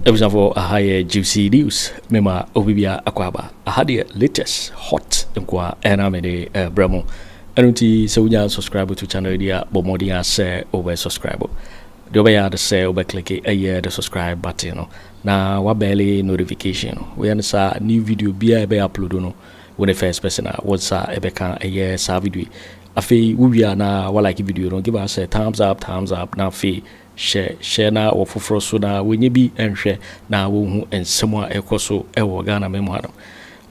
abusuafoɔ aha yɛ gypsy news mema obi bia akɔ aba aha deɛ latest hot nkoa ɛna mede ɛbrɛ mo ɛno nti sɛ wonya subscribe to channel yi a bɔ mmɔden a sɛ wobɛ subscribe Deɛ wobɛyɛ ara ne sɛ wobɛ click ɛyɛ the subscribe button no na wa bɛɛle notification no. Woyɛ no saa a new video biara ɛbɛ upload no wo ne first person a wo nsa ɛbɛka ɛyɛ saa video yi. Afei wo wie a na wa like video no, give us a thumbs up thumbs up na afei hyɛ share na wɔ foforɔ so na wɔnyɛ bi nhwɛ na wɔnhu nsɛm a ɛkɔ so ɛwɔ Ghana man mu ha no.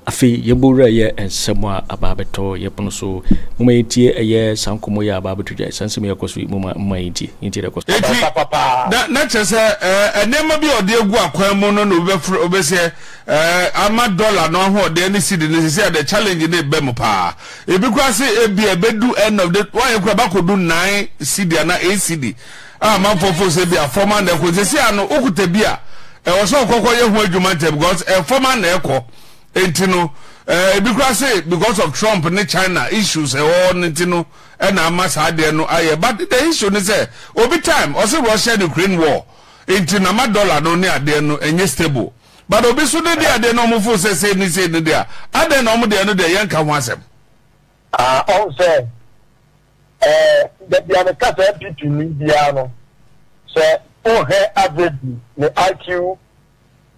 Afei yɛbɔ wura yɛ nsɛm a aba abɛtɔ yɛ pono so. Momma yɛntie ɛyɛ saa nkɔmmɔ yi a aba abɛto dwa yi, saa nsɛm yi a ɛkɔ so yi, momma, momma yɛntie, yɛntie deɛ ɛkɔ so. Eti, na, na kyerɛ sɛ, ɛɛ, nneɛma bi a ɔde agu akwan mu no na obi bɛfrɛ, obi bɛsɛ, ɛɛ, ama dɔla no ahoɔden ne sidi no, sisi a the challenge no reba mu paa. Ebi koraa se ebia ebedu end of the, wɔayɛ koraa, ɛbɛakɔdu nnan sidi anaa eight sidi. Ah amanfoɔ fo sɛ bia fɔm a na ɛkɔ sɛsi a no wokuta bi a ɛwɔ sɛ ɔkɔkɔ yɛ ho adwuma ntɛm because eh, fɔm a na ɛkɔ nti no eh, ebi kora se because of Trump ne China issues ɛwɔ hɔ no nti no ɛna ama saa adeɛ no ayɛ but the issue ne sɛ obi time ɔse Russia ne Ukraine war nti na ma dollar no ne adeɛ no ɛnyɛ stable but obi so ne deɛ adeɛ no ɔmo fo sɛ sei ne sei ne deɛ adɛn na ɔmo deɛ no deɛ yɛnka ho asɛm. Ah, ɔn sɛ Ɛɛ dabi a meka sɛ NPP ni biara no sɛ wohwɛ average ne IQ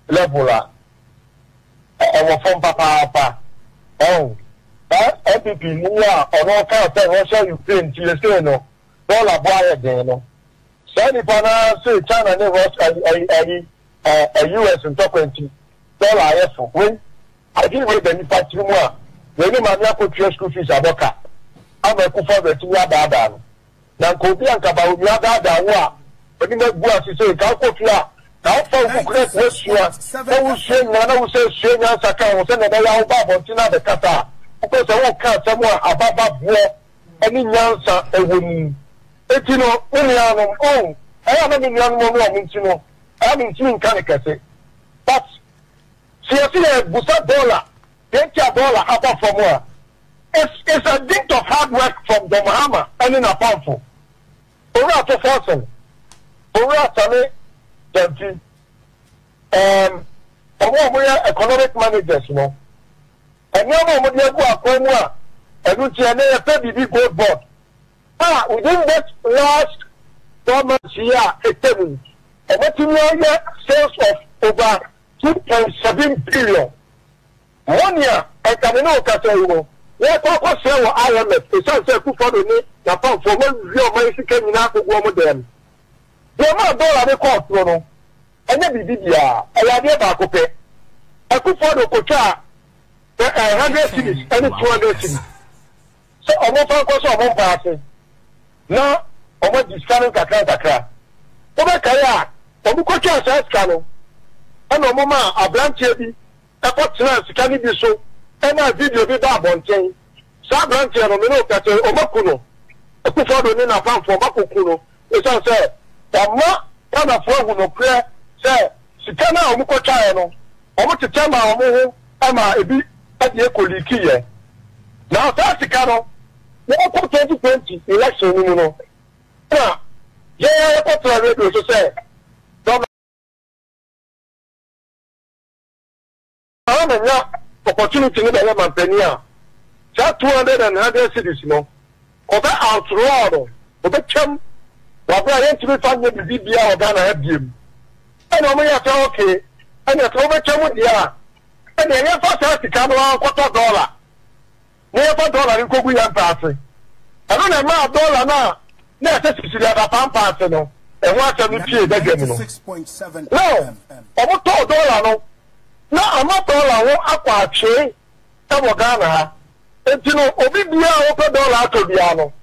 level a ɛwɔ fam papaapa ɛho saa NPP ni a ɔno ɔkaa sɛ Russia Ukraine nti ɛsei no dollar bo ayɛ den no saa nipa no ara se China ne Russia ayi Eh US ntɔkwa nti dollar ayɛ so wei adwene wei da nipa tiri mu a wei ne maame akɔtua school fees abɔ ka ama akufo a watumi adaadaa no na nka obi a nka ba onua adaadaa wo a onim agu ase sɛ nka wokɔ fie a ka wofa wo buku na kɔ asua na wosua nyinaa na wosɛ sua nyansa ka ho sɛnea ɛbɛyɛ a woba abɔnten na abɛkasa a wopɛ sɛ woka asɛm a abababoɔ ne nyansa ɛwɔ mu enti no me nuanom oh ɛyɛ na me nuanom ɔno ɔmo nti no saa me ntumi nka no kɛse but sɛ yɛse yɛ busa dollar yɛtua dollar aba fam a it's it's a dint of hard work from John Mahama ɛne n'apamfo Owura to Forson Owura Same Gyamfi um, ɔmo ɔmo yɛ economic managers no nneɛma ɔmo de agu akwan mu a ɛno nti ɛnɛ yɛpɛ biribi gold board a within this last four months yi a atwa mu yi, wɔatumi ayɛ sales of over two point seven billion. Money a nka me ne wo kasa yi no, yɛrekɔ akɔsrɛ wɔ IMF esiane sɛ Akufo-Addo ne n'apamfoɔ wɔawia wɔn ayɛ sika nyinaa akɔgu wɔn dan mu. Deɛ ɛmaa dɔla no kɔɔ soro no, ɛnyɛ biribi biara, ɛyɛ adeɛ baako pɛ, Akufo-Addo kɔtwaa hundred cedis ne two hundred cedis. sɛ wɔmfa nkɔhyɛ wɔn mpa ase na wɔadi sika no nkakrankakra. Wobɛkae a, wɔkɔtwaa saa sika no na wɔmaa aberanteɛ bi kɔtenaa sika no bi so maa video bi baa abɔnten. Saa aberanteɛ no, me ne wo ka sɛ wɔaku no. Akufo-Addo ne n'apamfoɔ, wɔakɔku no Esiane sɛ wɔamma Ghanafoɔ ahu nokorɛ sɛ sika no a wɔkɔtwaeɛ no, wɔtetɛ maa wɔn ho maa ebi de ɛkɔliikiiɛ. Na saa sika no, yɛkɔ 2020 election no mu no, ɛna yɛn ara yɛkɔtraa radio so sɛ, Saa na nya opportunity no bɛyɛ manpanin a saa two hundred and hundred cedis no ɔbɛ outraw no ɔbɛ twam wabere a yɛntumi fa nyɛ biribi biara wɔ Ghana ha biem ɛna ɔmo yɛ sɛ ok ɛna sɛ wobɛtwa mu deɛ a ɛna yɛfa saa sika no ara nkɔtɔ dollar na yɛmfa dɔla no nkogu yɛn mpɛ ase. Ɛno na ɛmaa dɔla no a na ɛsɛ sisiri adapampa ase no ho asɛm no piee badwam no. Now, wɔtɔɔ dɔla no na ama dɔla ho akɔ atwee wɔ Ghana ha. Enti no, obi biara a ɔpɛ dɔla atɔ biara no,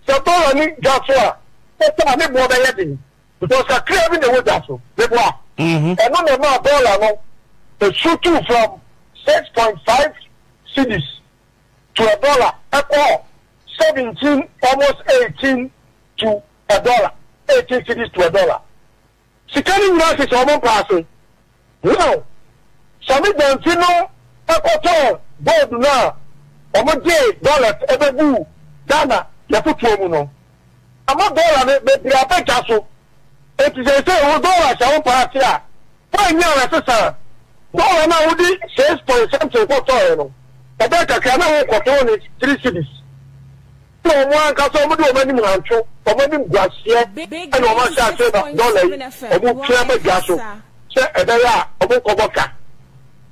sɛ dɔla no dwa so a, ne boɔ bɛyɛ den. Because kakraa bi na ɛwɔ gya so, meboa. Ɛno na ɛmaa bɔɔla no su tuu from six point five cedis to a dollar ɛkɔɔ seventeen almost eighteen to a dollar, eighteen cedis to a dollar. Sika no nyinaa sisi wɔn mpa ase. Wow! Sammy Gyamfi no kɔtɔɔ gold no a wɔde dollars bɛbuu Ghana yɛfotoɔ mu no. Ama dollar no bebree aba dwa so. Enti seesei wo dollar hyɛ wo paa ase a, fine yi a wɔsesa a, dollar no a wode six point something kɔtɔeɛ no, ɛbɛyɛ kakra na worekɔtɔn no three cedis. Ɛna wɔn ankasa wɔn de wɔn anim hanto wɔn animguaseɛ ɛna wɔn ahyɛ aseɛ na dɔla yi wɔn twe ama dwa so sɛ ɛbɛyɛ a wɔn nkɔbɔ ka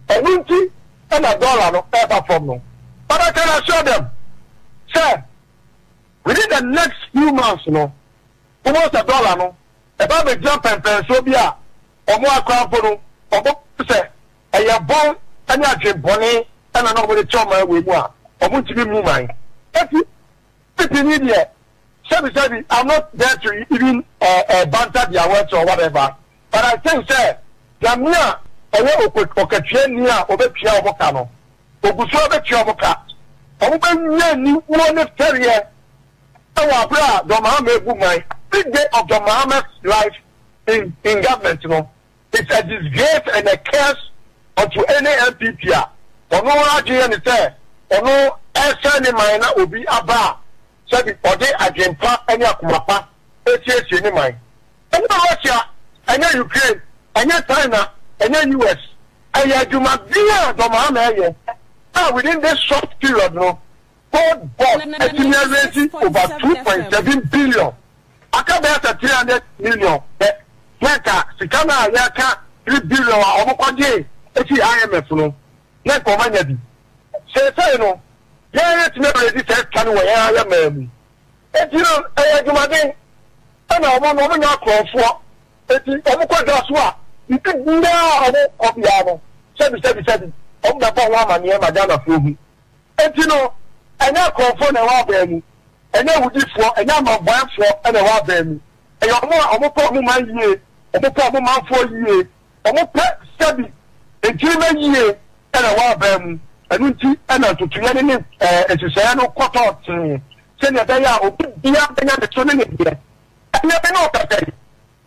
ɛno nti ɛna dɔla no ɛba fam no. But I can assure them sɛ within the next few months no mo bɛhu sɛ dɔla no ɛba abɛgyina mpɛnpɛnsoɔ bi a wɔn akora mpo no wɔn sɛ Ɛyɛ bɔn ne adwen bɔne na na wɔde kyɛ ɔman wei mu a wɔntumi mmu man. Enti Pipini deɛ sɛbi sɛbi I'm not there to even banter their words or whatever but I think sɛ Nyame a ɔyɛ okatuani a ɔbɛtua wɔn ka no ɔgu so ara bɛtua wɔn ka. Wɔbɛnya aniwuo ne fɛreɛ wɔ aberɛ a John Mahama rebu man, big day of John Mahama's life in in government no. It's a disgrace and a curse unto any NPP a ɔno adwene yɛ no sɛ ɔno ɛsɛe ne man na obi aba a sɛbi ɔde adwene pa ne akoma pa ɛsiesie ne man. Ɛnyɛ Russia, ɛnyɛ Ukraine, ɛnyɛ China, ɛnyɛ US, ɛyɛ adwuma bi a Dɔmaa na ɛyɛ a within this short period no Gold Board atumi araise over two point seven billion. Aka bɛyɛ sɛ three hundred million pɛ sɛ nka sika no a yɛreka three billion a wɔkɔgyee fii IMF no, na nka wɔanya bi. Seesei no, yɛn retumi aredi saa sika no wɔ yɛn ara yɛn man mu. Enti no, ɛyɛ adwumaden. Ɛna wɔn no, wɔnyɛ akorɔmfoɔ, enti wɔkɔ dwa so a, biribi biara a wɔkɔ biara no, sɛbisɛbisɛbi, wɔbɛbɔ ho amanneɛ ma Ghanafoɔ ahu. Enti no, ɛnyɛ akorɔmfoɔ na ɛwɔ abaa mu, ɛnyɛ awudifoɔ, ɛnyɛ amanbɔɛfoɔ na ɛwɔ abaa mu. Ɛyɛ wɔn a wɔpɛ wɔn man yie, wɔpɛ wɔn manfoɔ yie, wɔpɛ sɛbi nkyirimɛ yie na ɛwɔ abaa mu. Ɛno nti na ntutuiɛ no ne nhyehyɛeɛ no kɔtɔɔ tee sɛdeɛ ɛbɛyɛ a obi biara bɛnya ne so ne ne deɛ. Ɛnnɛ me ne wo kasa yi,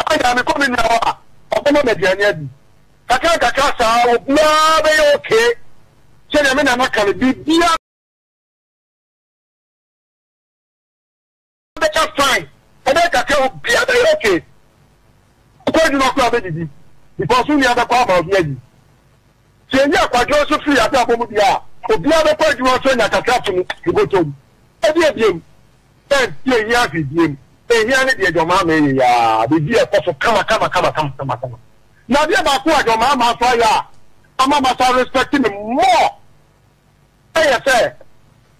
Ɔka nyaa me kɔ me nua hɔ a ɔbɛma me aduane adi. Kakra kakra saa obiara bɛyɛ okay sɛdeɛ me nana ka no biribiara bɛka fine ɛbɛyɛ kakra obiara bɛyɛ okay. Ɔkɔ adwuma koraa ɔbɛdidi because wo nua bɛkɔ ama obi adi. Sɛ yɛyi akwadworɔ nso firi yɛn abrabɔ mu deɛ a, obiara bɛkɔ adwuma nso anya kakra ato ne ne bɔtɔ mu. Ɛdeɛn biom? Ɛn, yɛnhia hwee biom. Ɛhia ne deɛ dɔmaamaa yɛ yi ara, biribi a ɛkɔ so kama kama kama kama kama kama. Na adeɛ baako a dɔmaamaa nso ayɛ a ama masa respect no more ɛyɛ sɛ,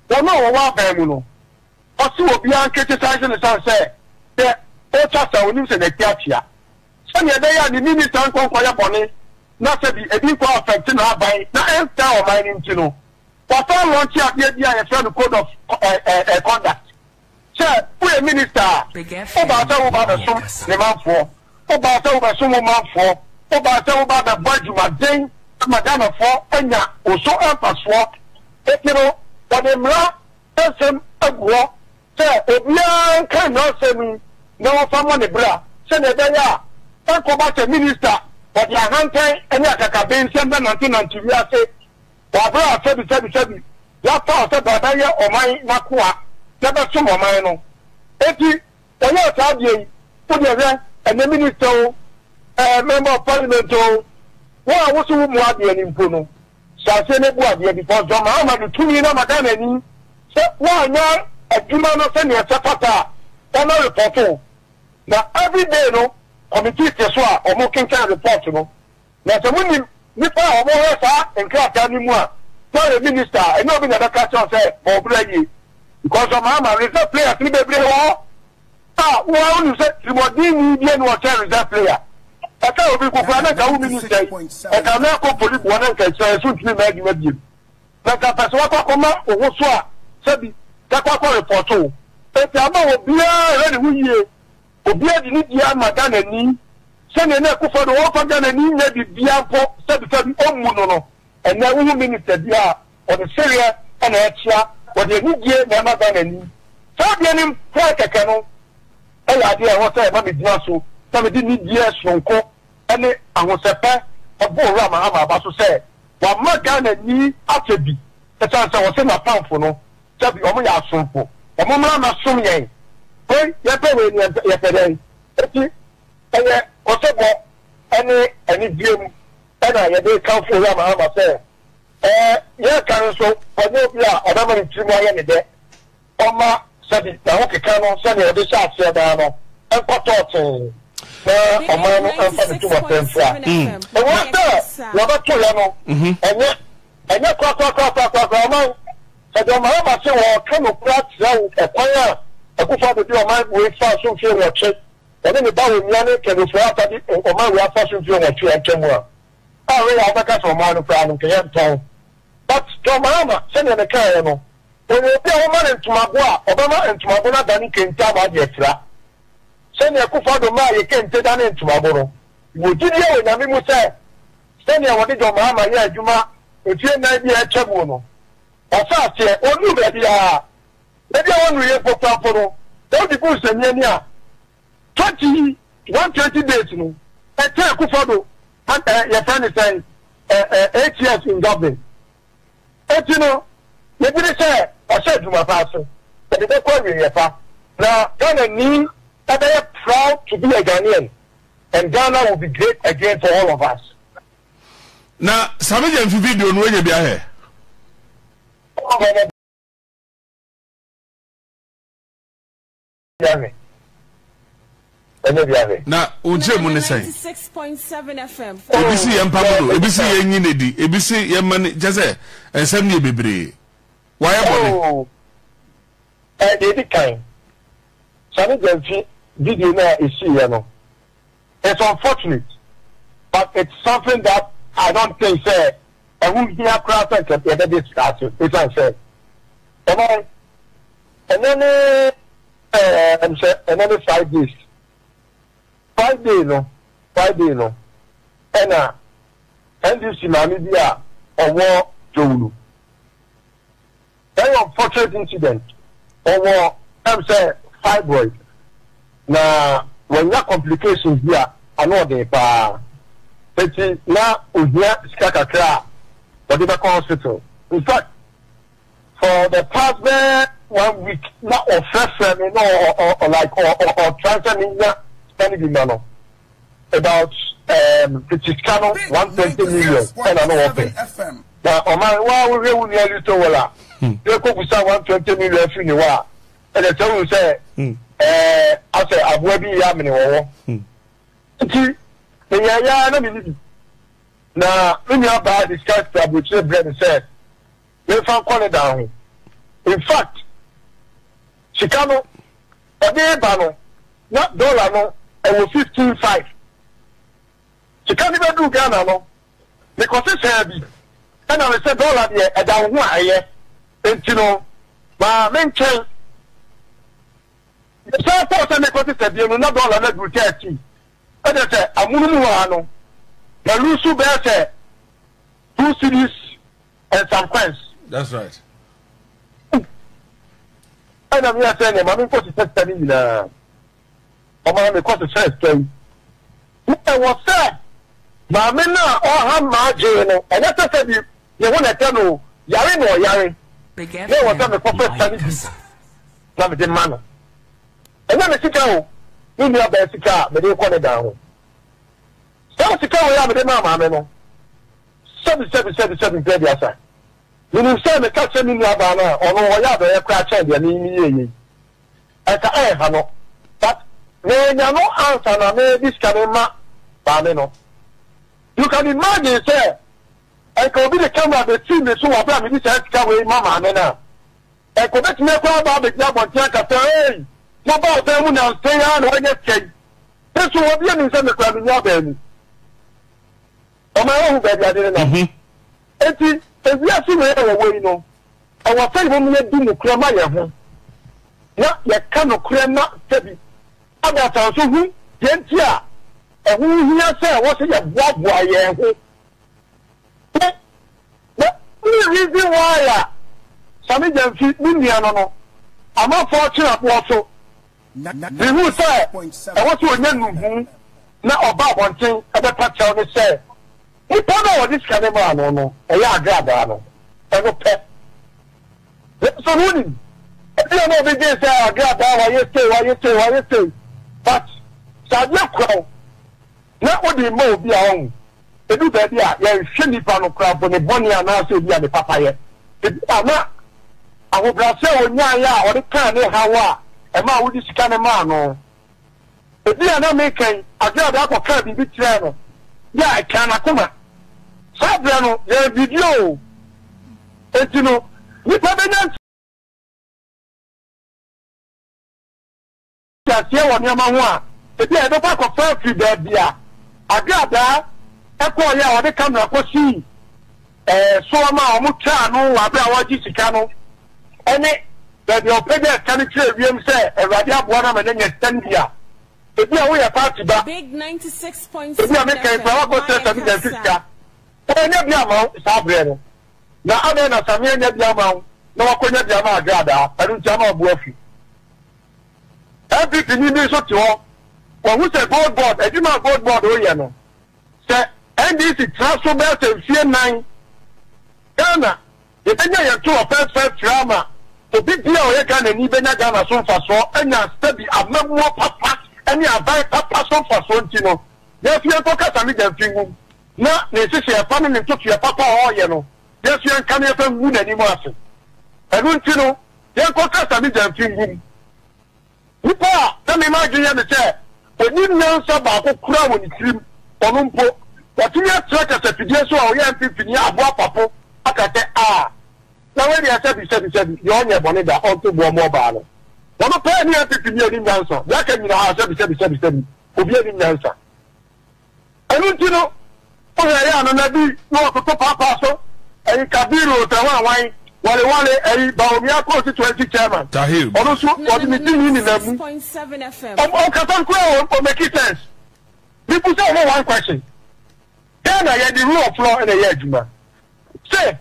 wɔn a wɔwɔ aban mu no, ɔse obiara nkriticize no ɛsiane sɛ, sɛ ɔretwa sa, ɔnim sɛ n'ati akyea. sɛnea ɛbɛyɛ a ne minista nkɔ nkɔyɛ bɔne na sɛ bi ebi nkɔ affect n'aban na ɛnsɛe ɔman no nti no, wɔasan launche adeɛ bi a yɛfrɛ no Code of Conduct. Sɛ woyɛ minista a, wobaa sɛ woba abɛsom ne manfoɔ, wobaa sɛ wobɛsom wo manfoɔ, wobaa sɛ woba abɛbɔ adwumaden ama Ghanafoɔ anya wo so mfasoɔ, enti no wɔde mmara nsɛm agu hɔ Sɛ obiara nka mmaransɛm yi na wɔmfa mmɔ ne bra sɛnea ɛbɛyɛ a ɛnkɔba sɛ minista ɔde ahantan ne akakabee nsɛm bɛnantenante wiase wɔ abere a sɛbisɛbisɛbi yɛapaw sɛ bɛabɛyɛ ɔman no akoa na bɛsom ɔman no. Enti wɔyɛɛ saa adeɛ yi. Wodeɛ hwɛ ɛnɛ minista o, ɛɛ member of parliament o, wo a wo se wo mua adeɛ no mpo no, Hyɛaseɛ no bu adeɛ because John Mahama de tumi no ama Ghana ni sɛ woanyɛ adwuma no sɛdeɛ ɛsɛ fata a wɔmɛ report wo na every day no committee te so a wɔn kenkan report no na sɛ mo nim nipa a wɔn hwɛ saa nkrataa no mu a na ɔyɛ minister a ɛnyɛ obi na ɛbɛka kyerɛ wo sɛ bɔ wo bra yie because John Mahama reserve players no bebree wɔ hɔ Ah wo ara wonim sɛ trimɔdenni deɛ ne ɔkyɛn reserve player. Ɛka obi nko koraa na nka wo minister yi ɛka no ɛkɔ poli boɔ na nka ɛkyerɛ yɛ so ntumi mma adwuma biom. Na nka pɛsɛ wakɔ akɔma wo ho so a sɛbi kɛkɔ akɔ report wo. Enti ama obiara ɛhwɛ ne ho yie. Obiara de ne die ama Ghanani sɛdeɛ na Akufo Addo ɔmfa Ghanani nyɛ biribiara mpo sɛbi sɛbi ɔmmu no no ɛnɛ wohu minister biara Wɔde sereɛ na ɛkyea, wɔde anidie na ɛma Ghana ni. Saa adeɛ no mpoɛ kɛkɛ no yɛ adeɛ a ɛwɔ sɛ ɛma megyina so na mede anidie sononko ne ahosɛpɛ bɔ Owura Mahama aba so sɛ wama Ghana ni asɛ bi ɛsiane sɛ ɔse n'apamfo no sɛ bi wɔn yɛ asomfo, wɔn mmra mmɛsom yɛn. Wei yɛpɛ wei no yɛmpɛ, yɛpɛ dɛn? Enti ɛyɛ ɔsebɔ ne anidie mu na yɛde rekamfo Owura Mahama sɛ Ɛɛ, nea aka no nso, wɔnyɛ obi a ɔbɛma ne tirim ayɛ no dɛ. Ɔmma sɛbi n'ahokeka no sɛnea ɔde hyɛɛ aseɛ daa no nkɔtɔ tee, na ɔman no mfa ne tumɔtɛ mfira. Ɛwom sɛ deɛ ɔbɛtoeɛ no, ɛnyɛ, ɛnyɛ korakorakorakorakoraa ɔman. Sɛ deɛ Mahama se wɔreka nokorɛ akyerɛ wo, ɛkwan a Akufo-Addo de ɔman wei faa so mfeɛ nwɔtwe, ɔne ne ba Owia ne Kenneth Ofori-Atta de ɔman wei afa so mfeɛ nwɔtwe atwam a, a wei a wobɛka sɛ ɔmaa no koraa no nka yɛ ntɔn but John Mahama sɛdeɛ ne kaeɛ no ɔyɛ obi a woma no ntomago a ɔbɛma ntomago no adane kente ama ade afira sɛdeɛ Akufo Addo maa yɛ kente danee ntomago no mewɔ gyidie wɔ Nyame mu sɛ sɛdeɛ wɔde John Mahama yɛɛ adwuma mfie nnan bi a atwa mu no ɔsɛ aseɛ ɔnnuru baabiara baabi a wɔnnuruiɛ mpo koraa mpo no sɛ wode gu nsɛnniani a Church yi one twenty days no ɛkyɛɛ kufa do an ɛ yɛfrɛ ne sɛn ɛ ɛ eight years in government eti no yɛgye di sɛ ɔhyɛ adwuma paa so ɔde bɛkɔ awieɛ pa na Ghana ni ɛbɛyɛ proud to be a Ghanaian and Ghana will be great again for all of us. Na same gye mfi video no wanya bi ahɛ. Biahwe. Wanya biahwe. Na wo nkyerɛmu ne sɛn? Ebi si yɛn mpa mu no, ebi si yɛn nyi ne di, ebi si yɛn ma ne kyɛ sɛ nsɛm ne yɛ bebree. Wayɛ bɔne. Oh, eh, deɛ edi kan, sane gya mfi video no a esii yɛ no. It's unfortunate but it's something that I don't think sɛ ɛho hia koraa sɛ nka yɛbɛ discuss ɛsiane sɛ ɛnɛ ɛnɛ ne ɛm sɛ ɛnɛ ne five days Friday no Friday no ɛna NDC maame bi a ɔwɔ Jowulu Very unfortunate incident, ɔwɔ ɛm sɛ fibroid na wanya complications bi a ano ɔden paa eti na ohia sika kakra a ɔde bɛkɔ hospital. In fact for the past bɛyɛ one week na ɔfrɛfrɛ me na ɔ ɔ ɔ like ɔ ɔ ɔtry sɛ menya sika no bi ma no About um tete sika no one twenty million ɛna no wɔpɛ na ɔman wa wohwɛ wo nua little wall a yɛ kɔ busa one twenty million afiri ne hɔ a ɛdɛ sɛ wohu sɛ ɛɛ asɛ aboa bi yɛ amene wɔ hɔ nti meyɛ yɛ na mene bi na me nua baa de sika firi aburokyire brɛ me sɛ Memfa nkɔ ne dan ho. In fact, sika no ɔde reba no, na dollar no wɔ fifteen five. Sika no bɛduu Ghana no, mekɔsesaa bi, ɛna me sɛ dollar deɛ ɛda wo ho a ɛyɛ, enti no ma mentwɛn. Mesan kɔɔ sɛ merekɔsesa bio no, na dollar no aduru thirteen. Ɛna sɛ amonom hɔ ara no, maluusu bɛyɛ sɛ two cedis. and some coins. that's right. ɛna mi asɛ ne maame nkɔ sisɛ sika ne nyinaa ɔmaa mi kɔ sisɛ sika yi ɛwɔ sɛ maame no a ɔha maa gyee no ɛnyɛ sɛ sɛ bi ne ho na ɛtɛ no yare na ɔyare na ɛwɔ sɛ mekɔ fɛ sika ne bi na mede ma no ɛnyɛ me sika o ne nua bɛɛ sika a mede kɔ ne dan ho Saa sika wei a mede maa Maame no, sɛbi sɛbi sɛbi sɛbi mpɛ aduasa. Menim sɛ meka kyerɛ me nuabaa no a, ɔno ɔyɛ adɔeɛ koraa kyɛn deɛ me meyɛeɛ yi. Anka ɛrenha no, but manya no ansa na mede sika no rema Maame no. You can imagine sɛ anka obi de camera bɛfiri me so wɔ berɛ a mede saa sika wei ma Maame no a, Ɛkɔ betumi akɔ aba abegyina abɔnten aka sɛ, Ei! Mobaa ɔdan mu nnansa yi ara na wɔanya sika yi. Me nso, obi anim sɛ me koraa minnya abaa mu. Ɔma yɛhu baabi ade nenam. Enti, sɛ wiase wei a yɛwɔ yi no, ɛwɔ sɛ yɛn ani di nokorɛ ma yɛn ho, na yɛka nokorɛ ma sɛbi adansɛ nso hu deɛ nti a ɛho hia sɛ wɔse yɛboaboa yɛn ho. The only reason why a Sammy Gyamfi ne nua no no ama fɔɔ kyen aboɔ so, mehuu sɛ ɛwɔ sɛ ɔnya nnuhu na ɔba abɔnten bɛpa kyɛw ne sɛ nipa no a ɔde sika no maa no no ɛyɛ agradaa no ɛno pɛ. Nanso no wonim, ebia na obi dwen sɛ agradaa wayɛ sei wayɛ sei wayɛ sei but sɛ adeɛ kura wo, na ɔde rema obi a ɔnhu. Ɛdu baabi a, yɛnhwɛ nipa no koraa mpo, ne bɔne anaasɛ ebia ne papayɛ. Ebia na ahobrɛase a ɔnyaeɛ a ɔde kaa ne haw a ɛmaa wode sika no maa no. Ebia na meka yi, adwene a ɔde akɔkaa biribi kyerɛɛ no bi a ɛkaa n'akoma. Saa berɛ no, yɛn video enti no, nipa bɛnya. nteaseɛ wɔ nneɛma ho a, ebia yɛbɛkɔ akɔfa afiri baabi a agradaa kɔeɛ a wɔde kamera kɔsii soɔ ma wɔtwaa ano wɔ berɛ a wɔregye sika no ne baabi a wɔpagyaa sika no kyerɛɛ wiem sɛ Awurade aboa no ama no anya sika no bi a. Ebia woyɛ paati ba. Ebia me kan koraa woakɔsrɛ Sammy Gyamfi sika. Wannya bi amma wo saa berɛ no, na adɛn na Sammy annya bi amma wo na wakɔnya bi ama Agradaa? Ɛno nti ama wabu afiri. NPP ni bi nso te hɔ, wahu sɛ gold board, adwuma a gold board reyɛ no, sɛ NDC tra so bɛyɛ sɛ mfie nnan, Ghana, yɛbɛnya yɛn toroɔ fɛɛfɛɛ firi ama obi biara a ɔyɛ Ghanani bɛnya Ghana so mfasoɔ anya sɛbi amammuo papa ne aban papa so mfasoɔ nti no, yɛnso yɛnkɔ Casamigya mfi nwum na ne nhyehyɛɛ pa ne ne ntotoeɛ papa a ɔreyɛ no, yɛnso yɛnka no yɛmfa ngu n'anim ase. Ɛno nti no. Yɛnkɔ kasa ne Gyamfi ngu mu. Nipa a na mema adwene yɛ me sɛ ɔnim nyansa baako koraa wɔ ne tirim, ɔno mpo, watumi atra kasafidie so a ɔyɛ mfimfini a aboa papo aka sɛ aa, na wei deɛ sɛbi sɛbi sɛbi, deɛ ɔnyɛɛ bɔne da, ɔnto boɔ mmɔ ɔbaa no. Ɔno pɛɛ ne mfimfini a ɔnim nyansa, deɛ aka nyinaa sɛbi sɛbi sɛbi sɛbi, obiara nnim nyansa. Ɛno nti no, wohwɛ yɛ ano na bi na wɔtoto paapaa so, ɛyi Kabiru Otawanwan, Wale Wale, ɛyi Bawumia constituency chairman, Tahir ɔno nso wɔde ne di ne nina mu. Ɔm ɔnkasa no koraa ɔ ɔmaki sense. Me busa ɔmo one question, Ghana yɛde rule of law na ɛyɛ adwuma, se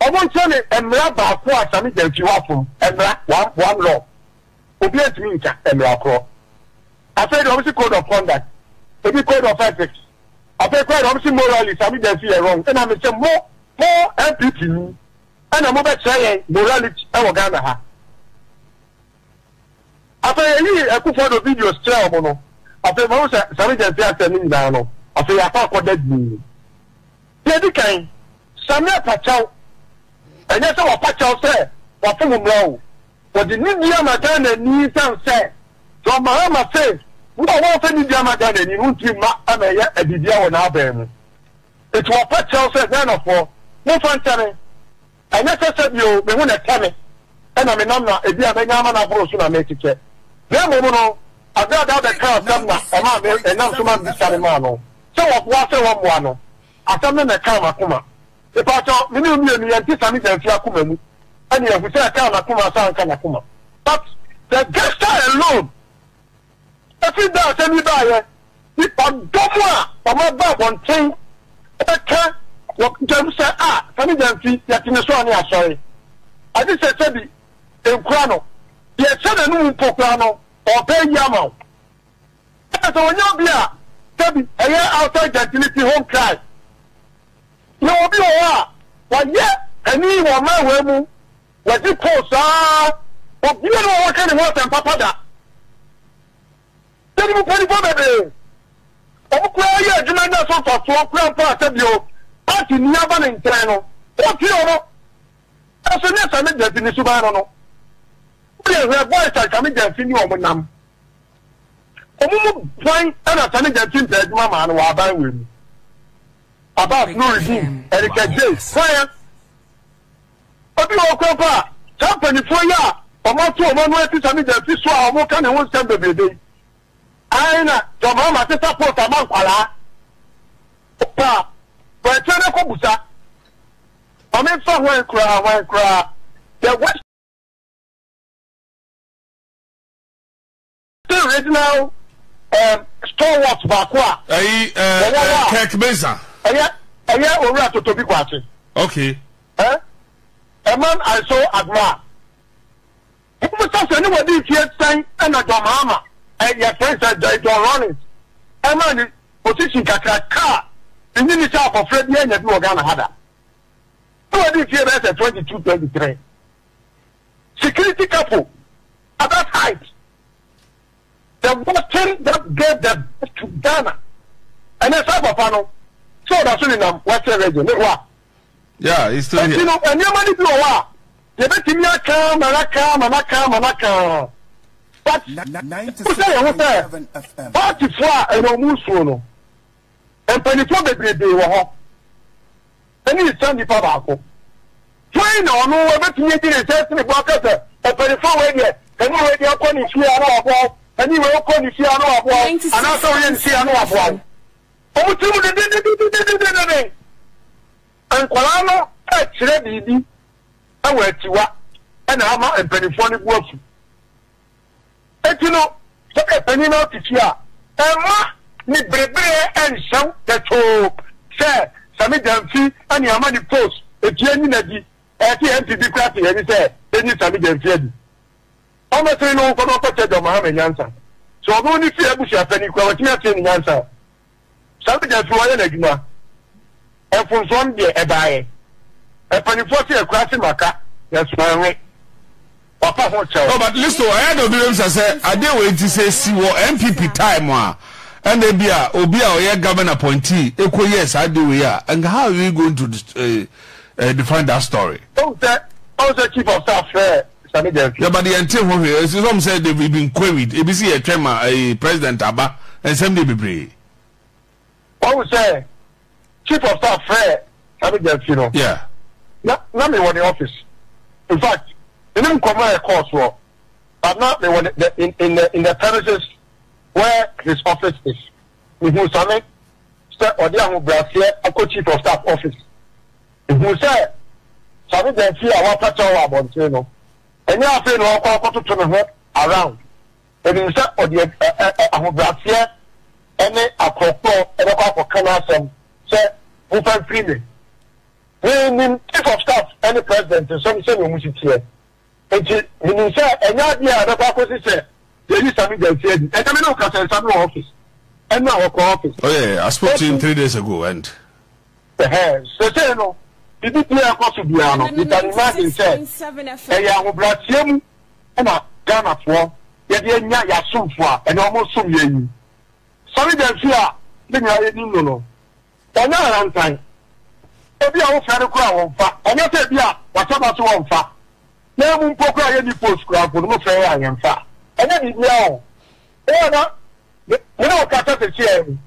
ɔmo nkyerɛ me mmra baako a Sami Gyamfi wafom, mmra, one one law, obiara ntumi nka mmara korɔ. Afei deɛ wɔsi code of conduct, ebi code of ethics, afei koraa deɛ wɔsi moralist a me deɛ nso yɛ wrong. Ɛna me sɛ mo mo NPP yi ɛna mo bɛkyerɛ yɛn morality ɛwɔ Ghana ha. Afei yɛyii Akufo Addo videos kyerɛɛ wɔn no, afei mahu sɛ Sammy Gyamfi asɛm no nyinaa no, afei yɛakɔ akɔda dinn. Deɛ edi kan, Sammy apakyɛw, ɛnyɛ sɛ wapakyɛw sɛ wafom mmara o. Wɔde nidi ama Ghana ani esiane sɛ John Mahama se wo a woamfa nidi ama Ghana ani no wontumi mma ama ɛyɛ biribiara wɔ n'aban mu. Enti wɔpa kyɛw sɛ Ghanafoɔ momfa nkyɛ me, ɛnyɛ sɛ sɛdeɛ o me ho na ɛtɛ me na menam na ebia manya amane ahorow so na merekyekyɛ na mmom no Agradaa bɛkaa asɛm na ɛmaa me ɛnam so ma mebisa me maa no sɛ wɔboa sɛ wɔmmoa no. Asɛm no na ɛkaa m'akoma Mepakyɛw, me ne wo mmienu yɛn te Sammy Gyamfi akoma mu ɛne yɛn hu sɛ ɛkaa n'akoma sɛ anka n'akoma but the gesture alone ɛfiri da a asɛm yi baayɛ ne ɔdɔ mu a wɔn aba abɔnten ɛbɛka wɔ dwam sɛ ah Sammy Gyamfi yɛte ne so a ne asɔre agye sɛ sɛbi nkura no deɛ ɛhyɛ n'anum mpo koraa no ɔpɛ ayi ama wo ɛna sɛ wɔnyɛ obi a sɛbi ɛyɛ outside gentility home cry Yɛwɔ bi wɔ hɔ a, wɔayɛ panin wɔ mmaawaa mu, wɔadi poo saa. Obiara wɔ hɔ a waka ne ho asɛm papa da. Yɛnim mpanimfoɔ bebree, wɔn koraa yɛ adwuma nya so mfasoɔ koraa mpo a sɛ bio party ni aba ne nkyɛn no, wɔtie wɔn. Nanso nyɛ saa ne Gyamfi ne suban no no. Wodeɛ hwɛ boys a Kwame Gyamfi ne wɔn nam. Wɔn mu ban na Sane Gyamfi mpɛ adwuma maa no wɔ aban wei mu. Abbas Nurudeen, Erica Jay, Hwan? Obi wɔ hɔ koraa mpo a saa mpanimfoɔ yi a wɔato wɔn ano asi saa media fi so a wɔka ne ho nsɛm bebrebe yi ae na John Mahama te support ama nkwadaa pa a wɔakyerɛ no kɔ busa ma memfa hwan koraa hwan koraa the west Still regional um, stalwart baako a. Ɛyi ɛɛ Kirk Mensah. Ɛyɛ ɛyɛ owura Totobi Kwakye. Okay. Ɛ a man I so admire. Mo mo sɛ sɛ ne wɔ di nfie sɛn ɛna John Mahama ɛyɛ fɛn sɛ Jai John Rawlings ɛma ne position kakra kaa ne ne ne sɛ akɔfra bi ɛnya bi wɔ Ghana ha da. Ne wɔ di nfie bɛyɛ sɛ twenty two twenty three. Security couple. other side the button that gave the birth to Ghana ɛnɛ saa papa no sɛ ɔda so nenam western region ne hɔ a Yeah, he's still ɛti here. no nneɛma no bi wɔ hɔ a yɛbɛtumi aka ma no aka ma no aka ma no aka but Ni- ni- sɛ yɛho sɛ 97 FM. paatifoɔ a ɛna ɔmu nsuo no Mpanimfoɔ bebrebe wɔ hɔ ɛne nsa nipa baako. Hwan na ɔno ɛbɛtumi adi ne nsa asi ne bo aka sɛ ɔpanimfoɔ wei deɛ ɛne wei deɛ kɔ ne fie a na waboa wo, ɛne wei kɔ ne fie a na waboa wo, anaasɛ woyɛ ne sei a na waboa wo. Wɔn tiri mu dedededededededen. Nkwadaa no rekyerɛ biribi wɔ akyiwa na ama mpanimfoɔ no bo afu. Enti no, sɛ woyɛ panyin na wote fie a, mma ne bere-bere nhyɛ wo pɛtwoo sɛ sɛ me gya mfi ne ama ne post efie nyi n'adi. Ɛte yɛn mfe bi koraa te yɛn ani sɛ enyi sɛ me gya mfi adi. Ɔno sene no nkɔ na ɔnkɔ kyɛ gya ɔma ha me nyansa. Sɛ ɔno ne fie abusuapɛni koraa watumi ateɛ ne nyansa a, Sane da firi hɔ yɛ n'adwuma. Mfomsoɔ no deɛ ɛbaeɛ. Mpanifoɔ se ɛkura se maka nanso manwe. Wapa ho kyɛw. Oh but listo ɛyɛ dɛ obi bɛ bisa sɛ adeɛ wei nti sɛ esi wɔ NPP time a ɛna ebi a obi a ɔyɛ government appointee ekɔ yɛ saa adeɛ wei a nka how are we going to uh, uh, define that story. Ɔn sɛ ɔn sɛ chief of staff frɛ. Yeah but yɛn te ho hwee. Ɛsi sɔm sɛ they've been queried. Ebi si yɛ twɛn ma ɛɛ eh, president aba. Nsɛm deɛ bebree. Wɔn sɛ chief of staff frɛ Sami Gyamfi no. Yeah. Na na mi wɔ ne office. In fact, ɛne nkɔmɔ yɛ kɔɔ soɔ. But na mi wɔ ne the in in the in the premises where his office is. Mi hu Sami sɛ ɔde ahobrɛaseɛ akɔ chief of staff office. Ehuu sɛ Sami da afie a wɔapata wɔ abɔnten no, ɛnyɛ afei na ɔrekɔ akɔtoto ne ho around. Onim sɛ ɔde ahobrɛaseɛ ne akorɔkorɔ bɛkɔ akɔka n'asɛm sɛ momfa mfiri me. Mennim Chief of Staff ne President nsɛm sɛdeɛ wɔsi teɛ, Enti, minim sɛ ɛnyɛ ade a ɛbɛkɔ akosi sɛ yɛyi Sammy Gyasi adi. Ɛnnɛ me ne wo kasa yi, Sammy wɔ office. Ɛnnora ɔkɔɔ office. Oh yeah, I spoke to him three days ago and. Ɛhɛɛ, seesei no, biribi biara a ɛkɔ so biara no, you can imagine sɛ ɛyɛ ahobrɛaseɛ mu na Ghanafoɔ yɛde anya yɛn asomfoɔ a ɛnnɛ wɔsom yɛn yi. Sammy Gyasi a yɛn nyinaa yɛnim no no, Ɔnyɛ ahantan. Ebia wofrɛ no koraa a, ɔmfa. Ɛnyɛ sɛ ebia wahyɛ da sɛ ɔmfa, na emu mpo koraa yenni post koraa mpo no, mofrɛ yɛn a, yɛmfa. Ɛnyɛ biribiara o. Wo a na me ne wo rekasa seesei yi,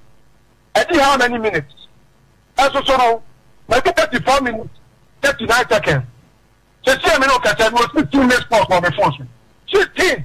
adi how many minutes? Ɛso so no, madi thirty four minutes, thirty nine seconds. Seesei a me ne wo rekasa yi, mewɔ sixteen missed calls wɔ me phone so. Sixteen!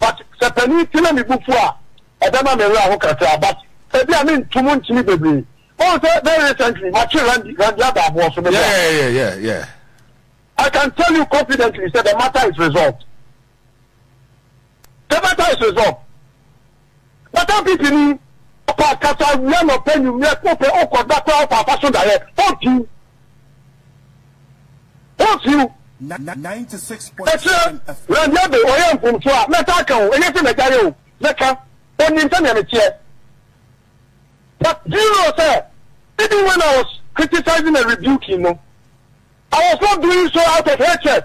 But sɛ panin ti na me bo fu a, ɛbɛma me werɛ aho kakra but ebia mentu mu ntini bebree. Woahu sɛ very recently matwe Randi, Randi ada aboɔ so, meboa. Yeah, yeah, yeah, yeah, yeah. I can tell you confidently sɛ the matter is resolved. The matter is resolved. Wata pipi ni ɔkɔ akasa awia anɔpa anwummerɛ wopɛ wokɔ da koraa wokɔ afa so daeɛ hon few hon few ɛkyerɛ Randy Abbey ɔyɛ mfomsoɔ a mɛtaa ka o ɛnyɛ sɛ mɛgyaeɛ o mɛka ɔnim sɛdeɛ meteɛ but do you know sɛ even when I was criticizing and rebuking no I was not doing so out of hatred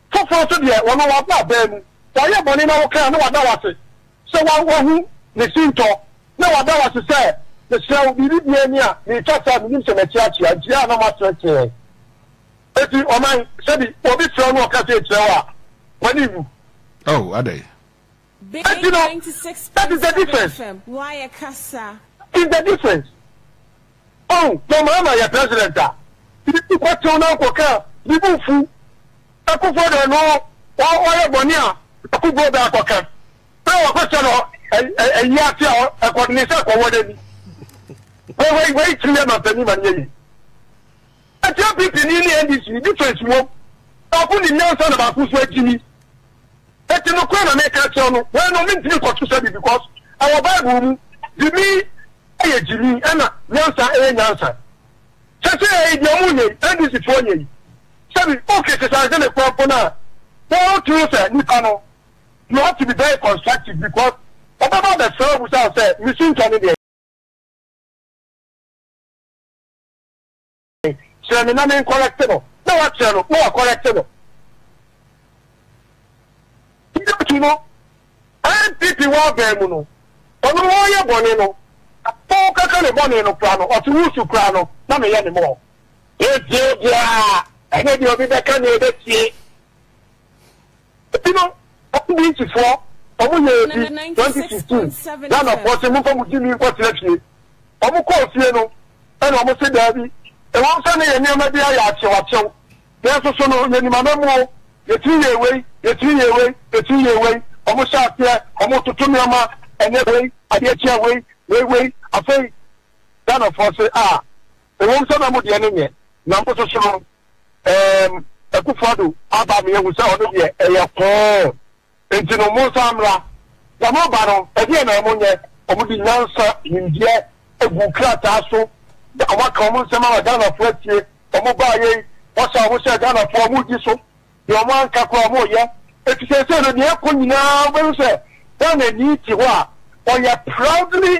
Foforɔ nso deɛ, ɔno waba abaa mu. Wayɛ bɔne na woka a, na wada wo ase sɛ wa, wahu ne sintɔ, na wada wo ase sɛ, Mesrɛ wo, biribi biara ni a, mereka sɛ, menim sɛ mati atua, nti a na moateatea ɛ. Enti ɔman, sɛbi, obi frɛ wo na ɔka sei kyerɛ wo a, w'ani nwu. Oh, adɛn? Enti no, that is the difference. That is the difference. Oh, na Mahama yɛ president a, bibi kɔ tew na nkɔ ka, bibi nfu. Akufo de no, ɔyɛ bɔne a, akufo bɛ akɔ ka. Bɛ wakɔ sɛ no, ɛyi ase a, ɛkɔ ne sɛ kɔwɔ n'ani. Wei wei wei tiri yɛ mampanin ma ne yɛ yi. Ɛti APP ni ne NDC ni difference wom. Baako ni nyansa na baako nso akyini. Enti nokorɛ na mereka akyerɛ wo no, wei no mentumi nkɔto sɛ bi because ɛwɔ Bible mu, gyimi yɛ gyimi ɛna nyansa yɛ nyansa. Sɛsɛɛi deɛ ɔmo nyɛ yi, NDC foɔ nyɛ yi, sɛbi oke sesanse ne kwan po no a, wo too sɛ nipa no you have to be very constructive because ɔbɛba abɛsrɛ wo abusa wo sɛ me sintɔ ne deɛn? kyerɛ me na me nkɔrɛkte no, na wakyerɛ no na wakɔrɛkte no. Ngyatu no, NPP w'aban mu no, ɔno ɔɔyɛ bɔne no, na ɔɔkaka ne bɔne no koraa no, ɔte wusu koraa no, na meyɛ ne mɔɔ. Yɛntie obiara, ɛnyɛ deɛ obi bɛka na yɛbɛtie. Ebi no Akubinsi foɔ ɔmo yɛɛ bi twenty sixteen Ghana foɔ se momfa mo gyimii nkɔ tena fie ɔmo kɔɔ fie no ɛna ɔmo se daabi ɛwɔm sɛ na yɛn nneɛma bi ayɛ akyew akyew nanso so no yɛnim amamuo yɛtumi yɛɛ wei yɛtumi yɛɛ wei yɛtumi yɛɛ wei ɔmo hyɛ aseɛ ɔmo toto nneɛma ɛnɛ wei adeɛ kyea wei wei wei afei Ghana foɔ se ah Ɛwom sɛ na mo deɛ no nyɛ na mo soso no, ɛɛm, Akufo-Addo aba me ahu sɛ ɔno deɛ ɛyɛ koo, enti no monsan mmra. Na mo ba no, ɛdeɛn na mo nyɛ? Wɔn de nyansa, nimdeɛ, aguu krataa so, na wɔn aka wɔn nsɛm ama Ghanafoɔ atie. Wɔn baa yei, wɔsa wɔn sɛ Ghanafoɔ, wɔn redi so. Deɛ wɔn anka koraa wɔn reyɛ. Enti seesei no deɛ ɛrekɔ nyinaa wobɛhu sɛ Ghanani te hɔ a ɔyɛ proudly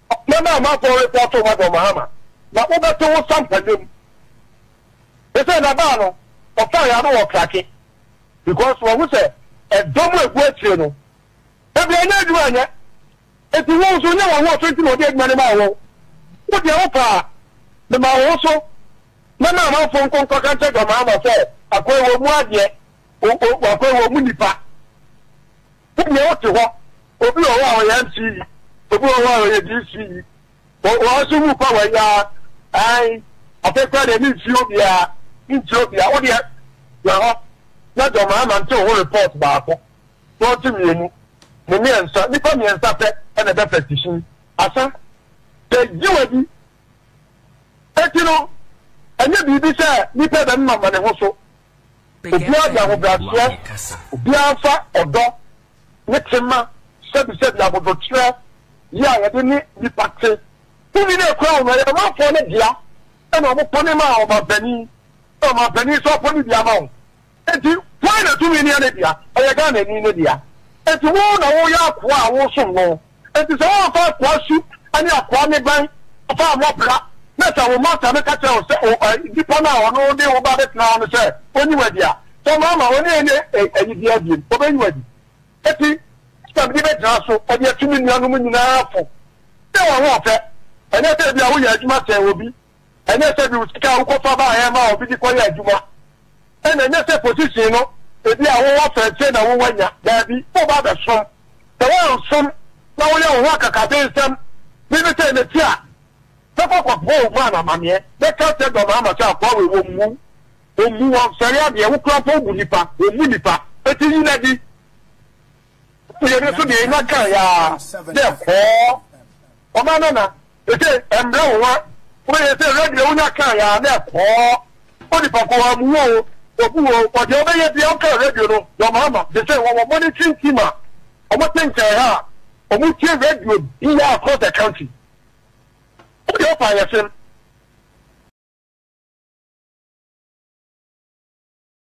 Ɔman a m'akɔn repɔn to ma John Mahama na wo bɛ to wo sampa dwom sesei na baa no ɔfaa yɛ ano wɔ krake because wahu sɛ ɛdɔ mu agu akyire no baabi a ɛnyɛ adwuma nyɛ enti wo nso nyɛ waho ɔfɛ nti na ɔde adwuma no maa wo wo deɛ wo paa mema wo ho so na ma amanfo nko nkɔka nkyɛ John Mahama sɛ akɔn wɔ mu adeɛ Wɔkɔ wɔn mu nipa. Sɛdeɛ wote hɔ, obi wɔ hɔ a ɔyɛ MC yi, obi wɔ hɔ a ɔyɛ DC yi. Wɔn nso mu pa wɔn ya. Ae, afei koraa deɛ memfie obiara, mentie obiara. Wo deɛ, gyina hɔ na John Mahama nte wo ho report baako na ɔnte mmienu ne mmiɛnsa. Nnipa mmiɛnsa pɛ na ɛbɛ petition asa. Sɛ gye w'adi Enti no, ɛnyɛ biribi sɛ nnipa bɛmema ma ne ho so. Obiara de ahobrɛaseɛ, obiara fa ɔdɔ ne tema sɛbisɛbi abodwokyerɛ yi a yɛde ne nnipa te. Tumi no a ɛkura wɔn no, ɛyɛ ɔmanfoɔ no dea, ɛna wɔpɔne ma ɔmanpanin, na ɔmanpanin nso apɔne bi ama wɔn. Enti hwan na tumi nea ne dea? Ɛyɛ Ghanani no dea. Enti wo na woyɛ akoa a woresom no. Enti sɛ woamfa akoa su ne akoa nneban amfa ammɔ bra, na sɛ wo masta no ka kyerɛ wo sɛ o, ɛ, nipa no a ɔno de wo ba abɛtena hɔ no sɛ onyi wo adi a, sɛ mamma wo ne yɛn nyɛ, ɛ, ayi biara bio, obenyi wo adi. Enti ɛna mede bɛgyina so de atu me nuanom nyinaa fo sɛ wɔn ahoɔfɛ, ɛnyɛ sɛ ebia woyɛ adwuma sɛn obi. Ɛnyɛ sɛ de wo sika a wokɔfa baeɛ maa obi de kɔyɛ adwuma, ɛna ɛnyɛ sɛ position no ebi a wowɔ fɛ nti na wowɔ nya. Daabi, woba abɛsom. Sɛ woansom na woyɛ wo ho akakabensɛm de me sɛe m'akyi a, mɛkɔ akɔboa wo man amaneɛ. Mɛka akyerɛ dɔm ama sɛ akoa wei wɔmmu wo. Wɔmmu, wɔmfɛre adeɛ. Wo koraa mpo wobu nnipa, wɔmmu nnipa. Enti nyi no adi. Afei emi so dee nya kãe ara dɛ hɔɔ. Ɔmaa Nana ese mbrɛ wo wa? Ɔbɛyɛ ese ewura deɛ wonya kãe ara dɛ hɔɔ. Onipa ko a muwo o, obu o, bɔ deɛ ɔbɛyɛ bia ɔkãe radio no na ɔmaa ma de sɛ wɔwɔ monitoring team a wɔte nkyɛn ha a wɔn tie radio bia across the country. Wo deɛ wopa ayɛsem.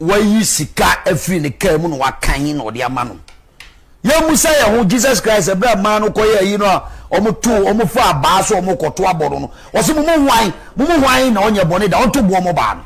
wayi sika afiri ne kaa mu na wakan na ɔde ama no yɛmmusa yɛn ho jesus christ ɛberɛ a mmaa no kɔyɛ ayi no a wɔto wɔn fa abaa so wɔn kɔto abɔ no no wɔsi mo mu hwan mo mu hwan na ɔnyɛ bɔne da wɔto boɔ mo baa no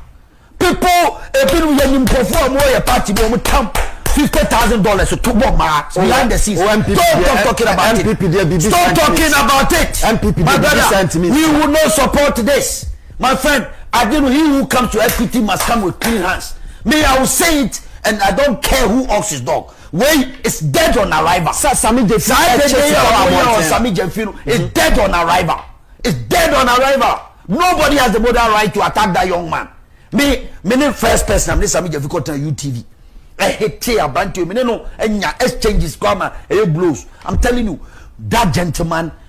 people ebinom yɛ nim nkurɔfoɔ a wɔyɛ party bi wɔn tam fifty thousand dollars to bɔ mmaa behind the scenes stop talking about it stop talking about it my brother we will not support this. My friend ade no he who comes to equity must come with clean hands me I will say it and I don't care who ox his dog wei is dead on arrival Sa Sami Gyamfi saa ɛkyɛ dede sika yi a wɔ wɔyɛ wɔ abɔnten a. Sami Gyamfi no is dead on arrival is dead on arrival nobody has the moral right to attack that young man me me ne first person a me ne Sami Gyamfi kɔ tena UTV ɛhete aberanteɛ yi me ne no nya exchanges koraa ma ɛyɛ blows I'm telling you that gentleman.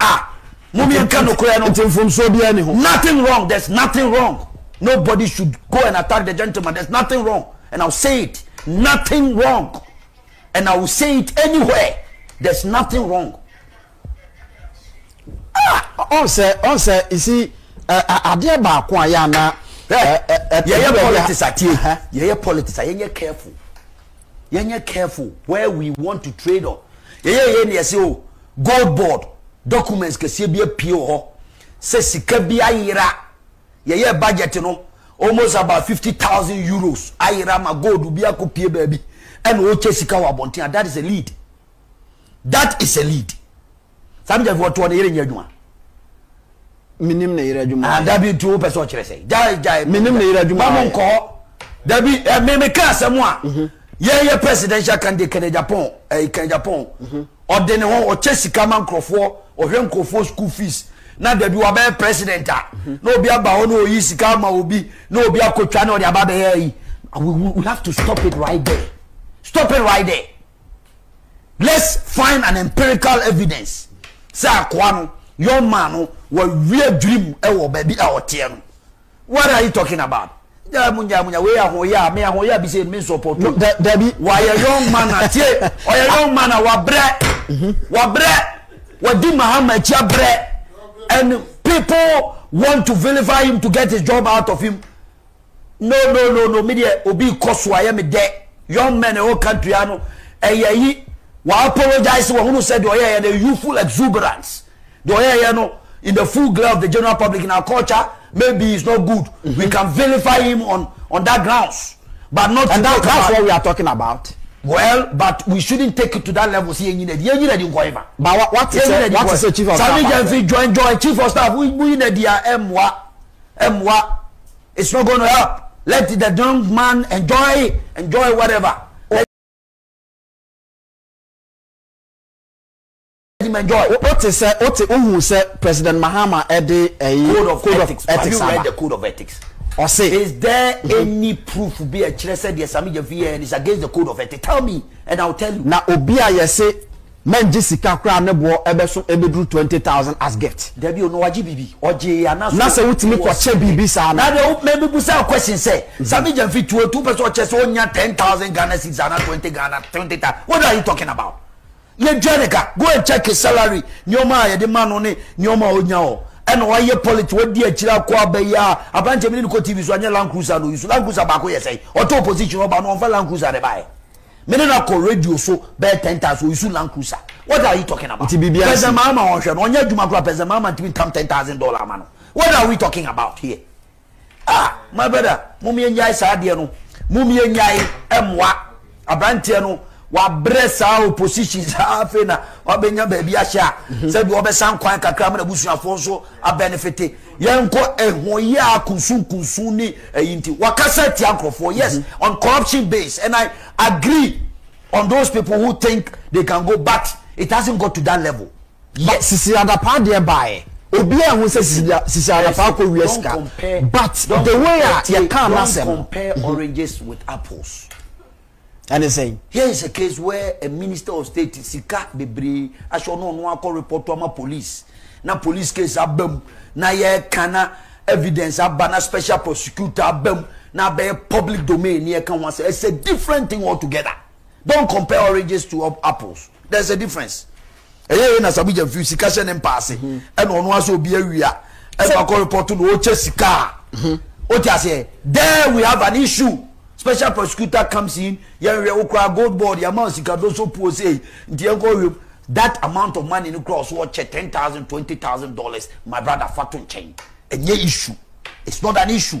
a mom yɛnka nokorɛ no nti mfomsoɔ biara ni ho nothing wrong there's nothing wrong nobody should go and attack the gentleman there's nothing wrong and I'll say it nothing wrong and I will say it anywhere there's nothing wrong ɔn sɛ ɔn sɛ isi adeɛ baako a yɛ ana yɛyɛ politics atie yɛyɛ politics a yɛnyɛ careful yɛnyɛ careful where we want to trade on yɛyɛ yɛ ne yɛsɛ o gold board documents kɛseɛ bi apue wɔ hɔ sɛ sika bi ayera yɛyɛ budget no almost about fifty thousand euros ayera ma gold bi akɔ pie baabi ɛna ɔkyɛ sika wɔ abɔnten a that is a lead that is a lead. Saa mi jafo ɔtoɔ ne yere nyɛ adwuma. Menim ne yere adwuma ayɛ. Dabi nti wopɛ sɛ ɔkyerɛ sɛ. Gyae gyae. Menim ne yere adwuma ayɛ. Mamu nkɔ hɔ. Dabi eh, me me ka asɛm a. Mhm. Yɛn yɛ presidential candidate Kenneth Agyapong ɛyi eh, Kenneth Agyapong. Mhm. Ɔde ne ho ɔkyɛ sika ma nkurɔfoɔ ɔhwɛ nkurɔfoɔ school fees na dabi wabɛyɛ president a mhm. na obi aba hɔ na oyi sika ama obi na obi akotwa na ɔde aba bɛyɛ yi. We have to stop it right there. Stop it right there. let's find an empirical evidence sɛ akoa no young man no wɔawie adwiri mu wɔ baabi a ɔteɛ no what are you talking about gyaa mu gyaa mu gyaa wei ahoyɛ a me ahoyɛ a bi sɛ me nsɔpɔ tu dabi wɔayɛ young man a tie ɔyɛ young man a wabrɛ mhm. wabrɛ wadi mahama akyi abrɛ and people want to vilify him to get his job out of him. No no no no me deɛ obi kɔ so ayɛ me dɛ young men ɛwɔ country ha no ɛyɛ yi wa apologize wɔ hunu sɛ deɛ ɔyɛ yɛ the youthful exuberance deɛ ɔyɛ yɛ no in the full glare of the general public in our culture maybe it's not good mm -hmm. we can vilify him on on that grounds but not and that, that's what we are talking about. well but we shouldn't take it to that level See, yẹn nyina di yẹn nyina di nkọ yẹn fa. ba wa ti sẹ wa ti sẹ chief of staff. sami jẹnfi join join chief of staff mu yina di a ẹ mua. mmoa it's not going to help let the young man enjoy enjoy whatever let him enjoy. o te sɛ o te ohun sɛ president mahama ɛde ɛyi code of code ethics of ethics have you read the code of ethics. ɔse. is there mm -hmm. any proof bi ɛkyerɛ sɛ deɛ sami jafi yɛ is against the code of ethics tell me and i will tell you. na obi a yɛse. Mɛngye sika koraa a ne boɔ bɛso bɛduru twenty thousand as gift. Dabi o, na wagye biribi? Ɔgyee yɛ anaasɛ ɔwɔ sɛdeɛ. Na sɛ wotumi kɔkyɛ biribi saa no. Na deɛ wo, me, mebisa wo question sɛ, Sammy Gyamfi tuo nti wopɛ sɛ ɔkyɛ sɛ ɔnya ten thousand Ghana cedis anaa twenty Ghana, twenty thou, what are you talking about? Yɛdua ne ka, go and check his salary, nneɛma a yɛde ma no ne nneɛma a ɔnya hɔ. Ɛna wayɛ politics, wadi akyire akɔ aba yi ara, aberanteɛ mene no kɔ TV so anyɛ Land Cruiser na ɔyi so, Land Cruiser baako yɛ sɛn? Ɔtɔ opposition ɔba no ɔmfa Land Cruiser na ɛbaeɛ. Me ne no kɔ radio so bɛyɛ ten times wɔ Isu Land Cruiser. What are you talking about? Nti biribi asi. President Mahama ɔnhwɛ no, ɔnyɛ adwuma koraa, President Mahama ntumi ntam ten thousand dollar ama no. What are we talking about here? Ah, my brother, mom yɛnyae saa adeɛ no. Mom yɛnyae ɛmmoa. Abranteɛ no, wabrɛ saa opposition saa afei na wabɛnya baabi ahyɛ a, sɛbi ɔbɛsan kwan kakra ma n'abusuafoɔ nso abɛnefete. Yɛnkɔ ɛhoyɛ a kunsunkunsun ne ɛyi nti wakasa atia nkorɔfoɔ yes mm-hmm. on corruption base and I agree on those people who think they can go but it hasn't got to that level yet. Sisi Adapaa deɛ baeɛ obi a ho sɛ sisi Adapaa kɔ wia sika but the way a yɛka anasɛm. Don't compare mm-hmm. oranges with apples. Ɛne sɛn? Here is a case where a minister of state sika bebree ahyɛ ɔno ɔno akɔ report ama police na police case aba mu na yɛka na evidence aba na special prosecutor aba mu na abɛyɛ public domain ne yɛka ho asɛ. It's a different thing altogether. Don't compare oranges to apples. There's a difference. ɛyɛ yɛ na sabu gya fi sika hyɛ ne mpaase mhm. ɛna ɔno asɛ obi awia ɛna akɔ repɔto na ɔkyɛ sika a mhm. o ti aseɛ there we have an issue special prosecutor comes in yɛn hwɛ okura gold board yɛn ama sika do so puo sei nti yɛn kɔ wiem that amount of money no kura ɔso ɔkyɛ ten thousand twenty thousand dollars my brother fa to nkyɛn ɛnyɛ issue it's not an issue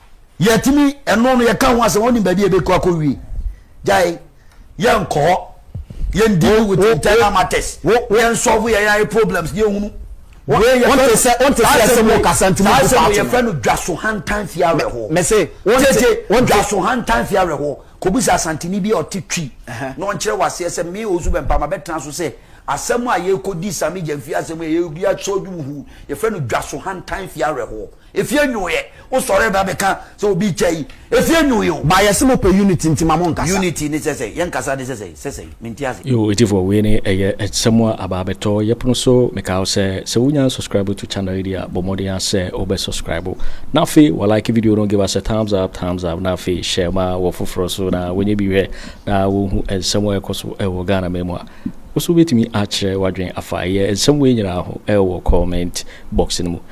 yɛtumi ɛno no yɛka ho asɛm ɔnim baabi a ɛbɛkɔ akɔ wie gyae yɛnkɔ hɔ yɛn deal with internal matters yɛn solve yɛn ayɛ problems yɛn hunu wọ́n sẹ́ wọ́n ti sẹ́ sẹ́ wọ́n kasa ntumi kó paati yẹ fẹ́ no dwaso hantan fi awẹ hɔ mẹsẹ wọ́n ti wọ́n dwaso hantan fi awẹ hɔ kòbisa asantini bi a ɔte twi na ɔnkyerɛ wɔ aseɛ sɛ mi ozu bɛn pama bɛ tena so sɛ asɛm a yɛkɔ di sami gyɛnfi asɛm a yɛkɔ di asɔdwuhu yɛfrɛ no dwaso hantan fi awɛ hɔ. Efie nyoyɛ wo sɔre ba bɛ ka sɛ obi kya yi efie nyoyɛ o. Ba yɛse mo pɛ unity nti ma mo nkasa. Unity ne sɛ sɛi, yɛn kasa ne sɛ sɛi, sɛ sɛi, mente ase. Yoo etifoɔ wei ne ɛyɛ nsɛm a aba abɛtɔ yɛpono so mekaa wo sɛ sɛ wo nya nsubscribe to channel yi deɛ a bɔ mmɔden ara sɛ wo bɛ subscribe na afei wa like video no give us a thumbs up thumbs up na afei share ma wɔ foforɔ so na wɔ nyɛ bi hwɛ na wɔ hu nsɛm a ɛkɔ so ɛwɔ Ghana man mu a wo so wobɛtumi akyerɛ wadwen afa ɛyɛ nsɛm wei nyinaa ho ɛwɔ comment box no mu.